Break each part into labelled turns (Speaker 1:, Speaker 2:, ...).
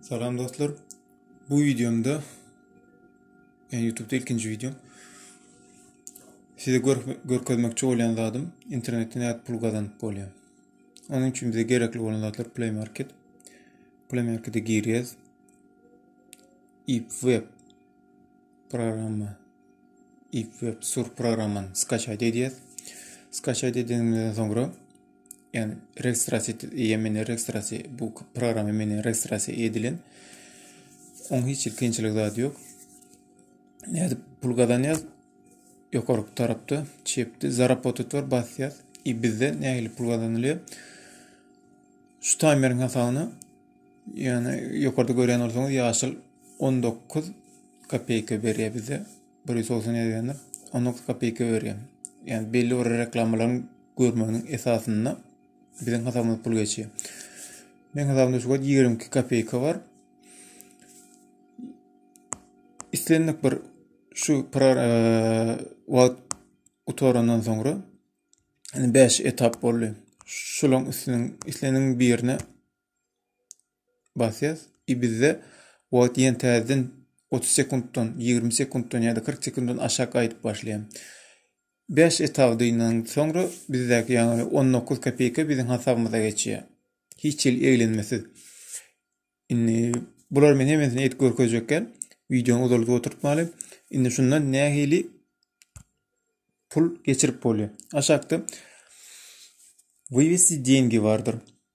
Speaker 1: Salam dostlar. Bu videomda yani YouTube'da ilkinci videom. Size gör, görkezmekçi bolýan zadym internetden nädip pul gazanyp bolýar. Onuň üçin bize gerekli bolan zatlar Play Market. Play Market'e girýäs. web programma. web sur programmany skaçaýt edýäs. Skaçaýt edeniňizden soňra Yani registrasiýa etdi, meni registrasiýa, bu programma meni registrasiýa edilen. Oň hiç bir kynçylyk zady ýok. Nädip pul gazanýas? Ýokary tarapda çepde zarapotet bar basýas. I bizde nähili pul gazanylýar? Şu timerin hasabyna yani ýokarda görýän bolsaňyz ýaşyl 19 kopeyka berýär bize. bir ýüz doksan ýedi berýändir on dokuz kopeyka berýär ýani belli bir reklamalaryň görmeginiň esasynda biziň hasabymyza pul geçýär meniň hasabymda şu wagt ýigrimi iki kopeyka bar islendik bir şu wagt gutarandan soňra beş etap boldy şularyň üstüniň isleniň birine basýas i bizde wagt ýen täzeden otuz sekuntdan ýigrimi sekuntdan ýa-da kyrk sekuntdan aşak gaýdyp başlaýan bäş etapdynyň soňra bizdäki ýaňy on dokuz kopeýka biziň hasabymyza geçýär hiç hili eglenmesiz indi bular men hemmesini edip görkezjekgän wideony uzalyp oturtmaly indi şundan nähili pul geçirip bolýar aşakda wywesti deňgi bardyr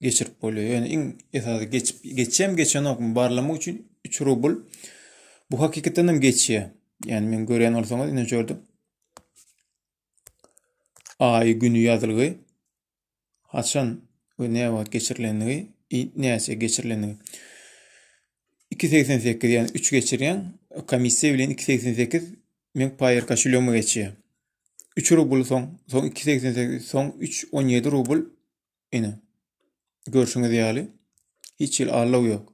Speaker 1: geçirip bolýar. Ýöne iň esasy geçip geçýän geçenokmy barlamak üçin 3 rubl bu hakykatdan hem geçýär. Ýani men görýän bolsaňyz ine gördüm. Aý güni ýazylgy. Haçan we ne wagt geçirilendigi, näçe geçirilendigi. 2.88 ýani 3 geçirýän komissiýa bilen 2.88 men paýer kaşulýomy geçýär. 3 rubl soň, soň 2.88 soň 3.17 rubl Ine. Görşüňiz ýaly hiç hili allow ýok.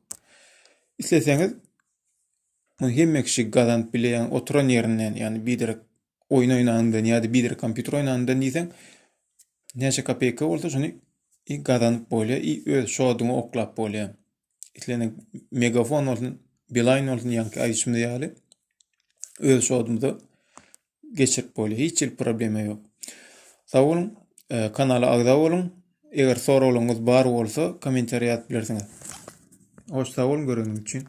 Speaker 1: Isleseňiz muny hemme kişi gazanyp bileýän oturan ýerinden, ýani biderek oýun oýnandan ýa-da biderek kompýuter oýnandan diýseň näçe kopeyka bolsa şuny i gazanyp bolýar i öz şoduňy oklap bolýar. Islenek megafon bolsun, bilaýn bolsun ýanki aýdyşymyz ýaly öz şodumyza geçirip bolýar. Hiç bir problema ýok. Sag boluň, e, kanala agza boluň. Eger soraglaryňyz bar bolsa, kommentariýa ýazyp bilersiňiz. Hoş sag boluň göreniň üçin.